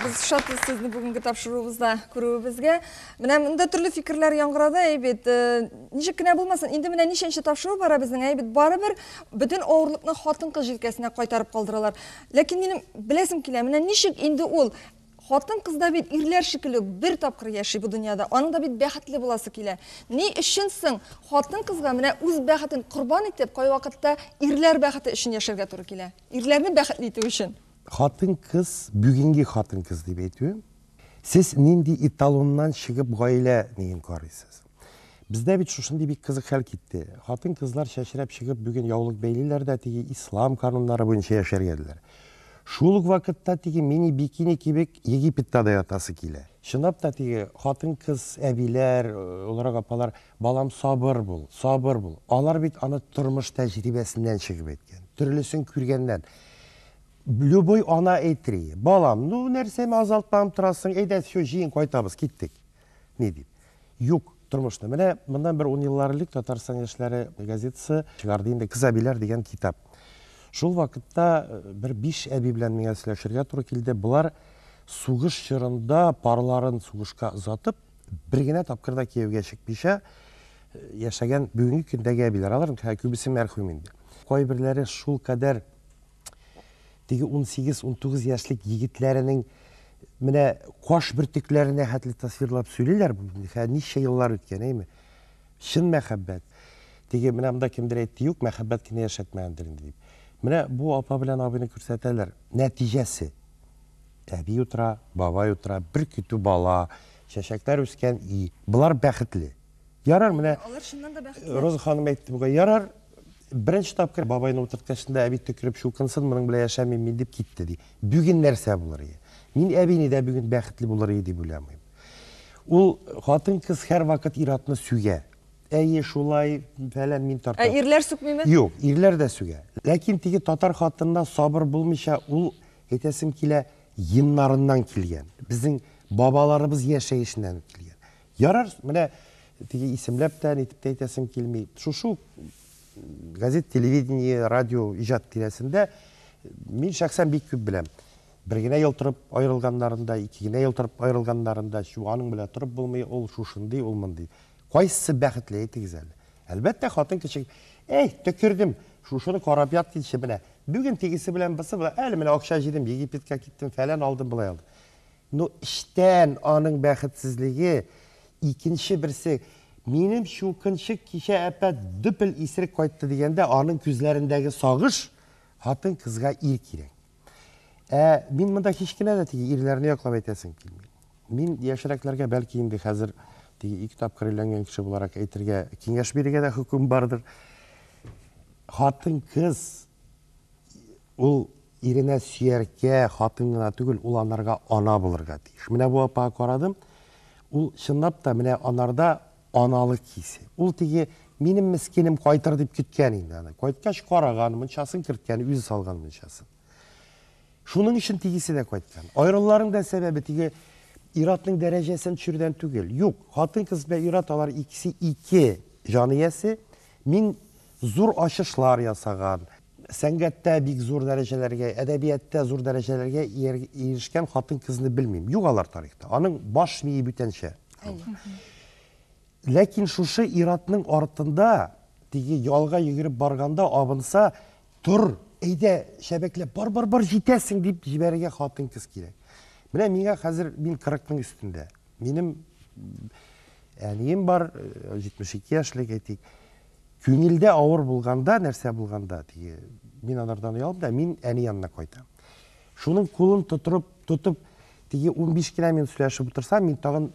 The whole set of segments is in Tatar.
Без шатбыз сезне бүгенге тапшыруыбызда күрүебезгә. Менә монда төрле фикерләр яңгырады, әй бит. Э, ничек кенә булмасын, инде менә ничәнче тапшыру бара безнең, әй бит. Барыбер бөтен авырлыкны хатын-кыз җилкәсенә кайтарып калдыралар. Ләкин минем беләсем килә, менә ничек инде ул хатын кыз да бит ирләр шикелле бер тапкыр яши бу дөньяда. Аның да бит бәхетле буласы килә. Ни өчен соң хатын кызга менә үз бәхетен корбан итеп, кайвакытта ирләр бәхете өчен яшәргә туры килә? Ирләрне бәхетле итү өчен. Хатын-кыз, бүгенге хатын-кыз дип әйтүем, сез нинди эталоннан чыгып гаилә ниен карыйсыз? Бездә бит шушындый бик кызык хәл китте. Хатын-кызлар чәчрәп чыгып бүген яулык бәйлиләр дә теге ислам кануннары буенча яшәргә диләр. Шул ук вакытта теге мини-бикини кебек Египетта да ятасы килә. Чынлап та теге хатын-кыз әбиләр, олырак апалар, балам сабыр бул, сабыр бул. Алар бит аны тормыш тәҗрибәсеннән чыгып әйткән, төрлесен күргәннән. Любой ана әйтри, балам, ну, нәрсәме азалтмам торасың, әйдә, все, җыен, кайтабыз, киттек. Ни дип. Юк, тормышны. Менә моннан бер ун еллар элек Татарстан яшьләре газетасы чыгарды инде Кыз әбиләр дигән китап. Шул вакытта э, бер биш әби белән миңа сөйләшергә туры килде. Болар сугыш чорында парларын сугышка озатып, бер генә тапкыр да кияүгә чыкмыйча э, яшәгән бүгенге көндәге әбиләр. Алар күбесе мәрхүм инде. Кайберләре шул кадәр Теге унсигез-унтугыз яшьлек егетләренең менә каш бөртекләренә хәтле тасвирлап сөйлиләр бу хә ничә еллар үткән әйме чын мәхәббәт теге менә монда кемдер әйтте юк мәхәббәт кенә яшәтмәгәндер инде дип менә бу апа белән абыйны күрсәтәләр нәтиҗәсе әби утыра бабай утыра бер көтү бала чәчәкләр үскән и болар бәхетле Ярар, менә Алар чыннан да бәхетле. Роза ханым әйтте бүген. Ярар, беренче тапкыр бабайны утырткачында әби төкереп чукынсын, моның белән яшәмим мин дип китте ди. Бүген нәрсә булыр ие? Мин әбине дә бүген бәхетле булыр ие дип уйламыйм. Ул хатын-кыз һәрвакыт ир-атны сүгә. Әйе, шулай, фәлән, мин тартам. Ә ирләр сүкмиме? Юк, ирләр дә сүгә. Ләкин теге татар хатынына сабыр булмыйча, ул, әйтәсем килә, геннарыннан килгән. Безнең бабаларыбыз яшәешеннән килгән. Ярар, менә теге исемләп тә, нитеп тә әйтәсем килми. Шушы ук газет, телевидение, радио иҗат тирәсендә мин шәхсән бик күп беләм. Бер генә ел торып аерылганнарын да, ике генә ел торып аерылганнарын да, чу, аның белән торып булмый, ул шушындый, ул мондый. Кайсысы бәхетле, әйтегез әле. Әлбәттә, хатын кеше, әй, төкердем, шушыны карап ят килче, менә, бүген тегесе белән, бысы белән, әле менә акча җыйдым, Египетка киттем, фәлән алдым, болай алдым. Ну, эчтән аның бәхетсезлеге, икенче берсе, Минем чукынчык кичә әпә дөпел исерек кайтты, дигәндә, аның күзләрендәге сагыш, Хатын-кызга ир кирәк. Ә мин монда һич кенә дә теге ирләрне яклап әйтәсем килми. Мин яшьрәкләргә бәлки инде хәзер теге ике тапкыр өйләнгән кеше буларак әйтергә, киңәш бирергә дә хөкем бардыр. Хатын-кыз ул Иренә сөяркә, хатын гына түгел, ул анарга ана булырга тиеш. Менә бу апага карадым, ул чынлап та менә анарда аналык хисе. Ул теге минем мескенем кайтыр дип көткән инде аны. Кайткач караган, мунчасын керткән, үзе салган мунчасын. Шуның өчен тегесе дә кайткан. Аерылуларның да сәбәбе теге ир-атның дәрәҗәсен төшерүдән түгел. Юк, хатын-кыз белән ир-ат алар икесе ике җан иясе. Мин зур ачышлар ясаган. Сәнгатьтә бик зур дәрәҗәләргә, әдәбияттә зур дәрәҗәләргә ирешкән хатын-кызны белмим. Юк алар тарихта. Аның баш мие бүтәнчә. Ләкин шушы иратның артында, теге ялга йөгереп барганда абынса, тор, әйдә, шәбәкләп, бар, бар, бар, җитәсең дип җибәрергә хатын-кыз кирәк. Менә миңа хәзер мин 40-ның өстендә. Минем әнием бар, 72 яшьлек әйтик. Күңелдә авыр булганда, нәрсә булганда, теге, мин анардан оялам да, мин әни янына кайтам. Шуның кулын тотырып, тотып, теге 15 кенә минут сөйләшеп утырсам, мин тагын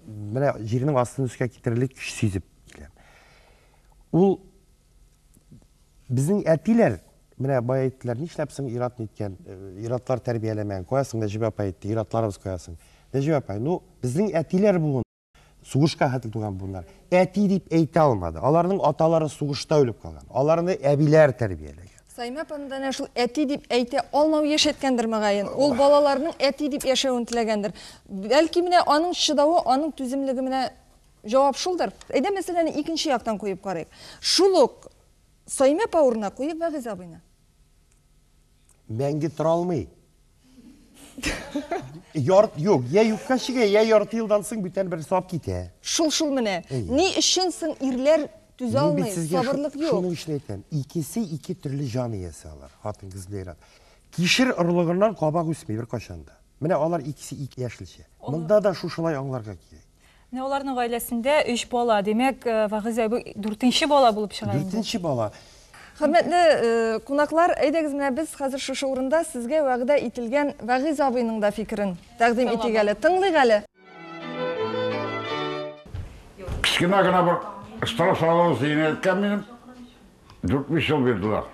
менә җирнең астын өскә китерерлек көч сизеп киләм. Ул безнең әтиләр менә бая әйттеләр, нишләп соң ират ниткән, э, иратлар тәрбияләмәгән, кая соң Нәҗибә апа әйтте, иратларыбыз кая соң. Нәҗибә апа, ну, безнең әтиләр буын. Сугышка хәтле туган буыннар. Әти дип әйтә алмады. Аларның аталары сугышта үлеп калган. Аларны әбиләр тәрбияләгән. Саймә апаны да шул әти дип әйтә алмау яшәткәндер мөгаен. Ул балаларның әти дип яшәвен теләгәндер. Бәлки менә аның чыдавы, аның түземлеге менә җавап шулдыр. Әйдә мәсьәләне икенче яктан куеп карыйк. Шул ук Саймә апа урынына куеп Вәгыйз абыйны. Мәңге тора алмый. Яр, юк, я юкка чигә, я ярты елдан соң бүтән бер сап китә. Шул шул менә. Ни өчен соң ирләр түзә алмый, сабырлык юк. Шуның өчен әйтәм, икесе ике төрле җан иясе алар, хатын кыз белән. Кишер орлыгыннан кабак үсми бер кайчан да. Менә алар икесе ике яшелчә. Монда да шушылай аңларга кирәк. Менә аларның гаиләсендә өч бала. Димәк, э, Вагыйз әби дүртенче бала булып чыга инде. Дүртенче бала. Хөрмәтле э, кунаклар, әйдәгез менә без хәзер шушы урында сезгә вәгъдә ителгән Вәгыйз абыйның да фикерен тәкъдим итик әле. Тыңлыйк әле. Кечкенә генә бер штраф салу зыйны әйткән минем. Дүрт-биш ел бирделәр.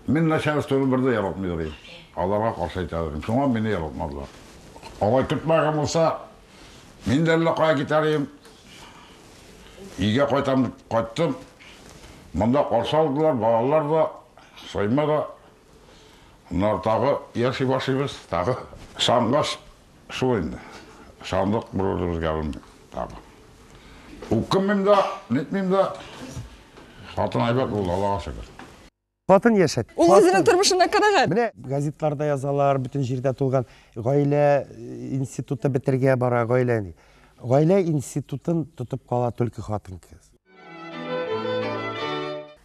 Мин начальствоны бер дә яратмыйдыр идем. Аларга каршы әйтәләр идем. Шуңа мине яратмадылар. Алай көтмәгән булса, мин дә әллә кая китәр идем. Өйгә кайтам дип кайттым. Монда каршы алдылар, балалар да, Сойма да. Аннары тагы яши башлыйбыз, тагы сагынгач, Шул инде. Ышандык бер-беребезгә белмим тагы. Үкенмим дә, нитмим дә. Хатын әйбәт булды, Аллага шөкер. Хатын яшәт. Ул үзенең тормышына канәгать. Менә газетларда язалар, бөтен җирдә тулган. Гаилә институты бетергә бара, гаилә. Гаилә институтын тотып кала түлке хатын-кыз.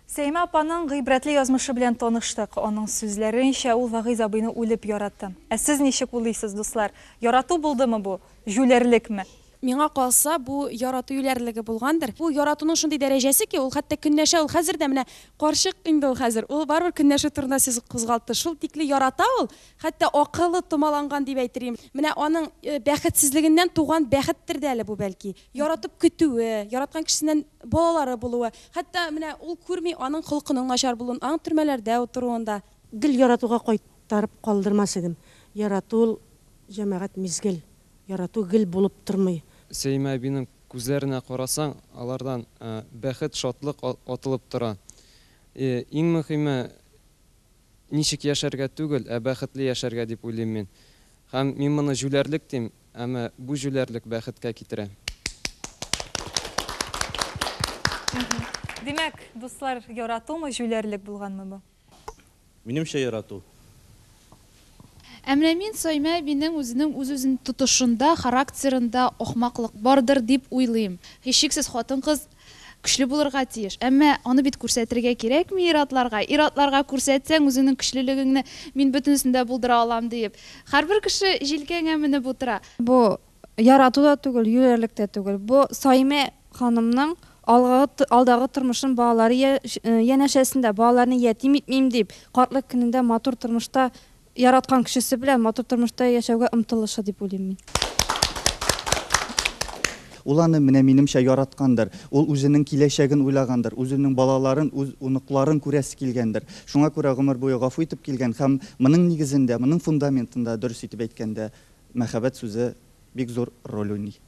Сәймә апаның гыйбрәтле язмышы белән таныштык. Аның сүзләренчә, ул Вагыйз абыйны үлеп ярата. Ә сез ничек уйлыйсыз, дуслар? Ярату булдымы бу, җүләрлекме? Миңа калса, бу ярату юләрлеге булгандыр. Бу яратуның шундый дәрәҗәсе ки, ул хәтта көнләшә, ул хәзер дә менә карчык инде ул хәзер, ул барыбер көнләшү турында сүз кузгалтты. Шул тикле ярата ул, хәтта акылы томаланган дип әйтер идем. Менә аның бәхетсезлегеннән туган бәхеттер дә әле бу, бәлки. яратып көтүе, яраткан кешесеннән балалары булуы, хәтта менә ул күрми аның холкының начар булуын, аның төрмәләрдә утыруын да. Гел яратуга кайтарып калдырмас идем. Ярату ул, җәмәгать, мизгел. Ярату гел булып тормый. Сәимә әбинең күзләренә карасаң, алардан бәхет, шатлык атылып тора. Иң мөхиме, ничек яшәргә түгел, ә бәхетле яшәргә дип уйлыйм мин. Һәм мин моны җүләрлек дим, Әмма бу җүләрлек бәхеткә китерә. Димәк, дуслар, яратумы, җүләрлек булганмы бу? Минемчә, ярату. Ә менә мин Саймә әбинең үзенең үз-үзен тотышында, характерында ахмаклык бардыр дип уйлыйм. Һичшиксез хатын-кыз Көчле булырга тиеш. Әмма аны бит күрсәтергә кирәкми ир-атларга. Ир-атларга күрсәтсәң, үзеңнең көчлелегеңне мин бөтенесен дә булдыра алам диеп, һәрбер кеше җилкәңә менеп утыра. Бу ярату да түгел, юләрлек тә түгел. Бу Саимә ханымның алгы, алдагы тормышын балалары янәшәсендә, балаларны ятим итмим дип, картлык көнендә матур тормышта Яраткан кешесе белән матур тормышта яшәүгә омтылышы дип уйлыйм мин. Ул аны, менә минемчә, яраткандыр. Ул үзенең киләчәген уйлагандыр, үзенең балаларын, үз оныкларын күрәсе килгәндер. Шуңа күрә гомер буе гафу итеп килгән һәм моның нигезендә, моның фундаментында, дөрес итеп әйткәндә, мәхәббәт сүзе бик зур роль уйный.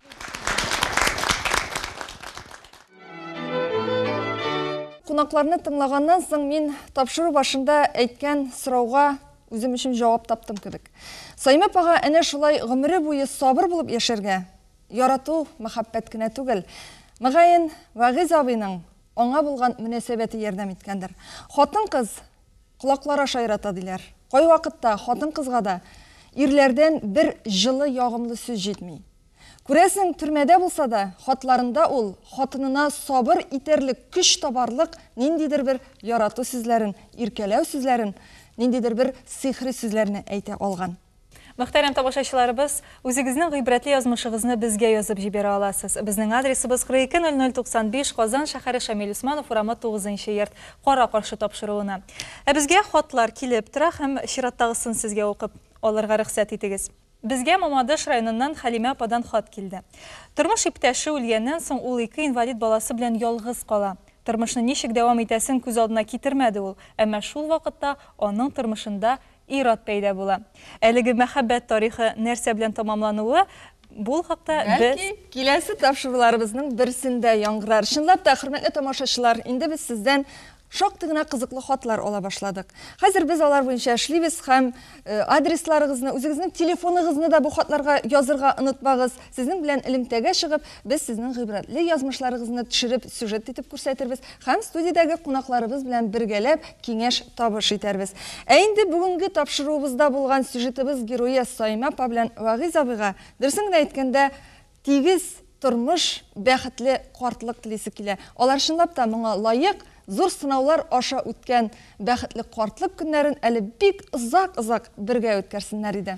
Кунакларны тыңлаганнан соң мин тапшыру башында әйткән сорауга үзем өчен җавап таптым кебек. Саймә апага әнә шулай гомере буе сабыр булып яшәргә, ярату, мәхәббәт кенә түгел. Мөгаен, Вәгыйз абыйның аңа булган мөнәсәбәте ярдәм иткәндер. Хатын-кыз Колаклар аша ярата, диләр. Кайвакытта хатын-кызга да ирләрдән бер җылы, ягымлы сүз җитми. Күрәсең, төрмәдә булса да, хатларында ул хатынына сабыр итәрлек, көч табарлык ниндидер бер ярату сүзләрен, иркәләү сүзләрен, ниндидер бер сихри сүзләрне әйтә алган. Мөхтәрәм тамашачыларыбыз, үзегезнең гыйбрәтле язмышыгызны безгә язып җибәрә аласыз. Безнең адресыбыз, 420095, Казан шәһәре, Шамил Усманов урамы, 9 нчы йорт, кара-каршы тапшыруына. Ә безгә хатлар килеп тора һәм чираттагысын сезгә укып алырга рөхсәт итегез. Безгә Мамадыш районыннан Хәлимә ападан хат килде. Тормыш иптәше үлгәннән соң, ул ике инвалид баласы белән ялгыз кала. Тормышны ничек дәвам итәсен күз алдына китермәде ул, әмма шул вакытта аның тормышында Ир-ат пәйда була. Әлеге мәхәббәт тарихы нәрсә белән тамамлануы бул хакта без. Бәлки, киләсе тапшыруларыбызның берсендә яңгырар. Чынлап та, хөрмәтле тамашачылар, инде без сездән шактый гына кызыклы хатлар ала башладык. Хәзер без алар буенча эшлибез һәм адресларыгызны, үзегезнең телефоныгызны да бу хатларга язырга онытмагыз. Сезнең белән элемтәгә чыгып, без сезнең гыйбрәтле язмышларыгызны төшереп, сюжет итеп күрсәтербез һәм студиядәге кунакларыбыз белән бергәләп киңәш-табыш итәрбез. Ә инде бүгенге тапшыруыбызда булган сюжетыбыз герое Саимә апа белән Вәгыйз абыйга, дөресен генә әйткәндә, тигез тормыш, бәхетле картлык телисе килә. Алар чынлап та моңа лаек, зур сынаулар аша үткән бәхетле картлык көннәрен әле бик озак-озак бергә үткәрсеннәр иде.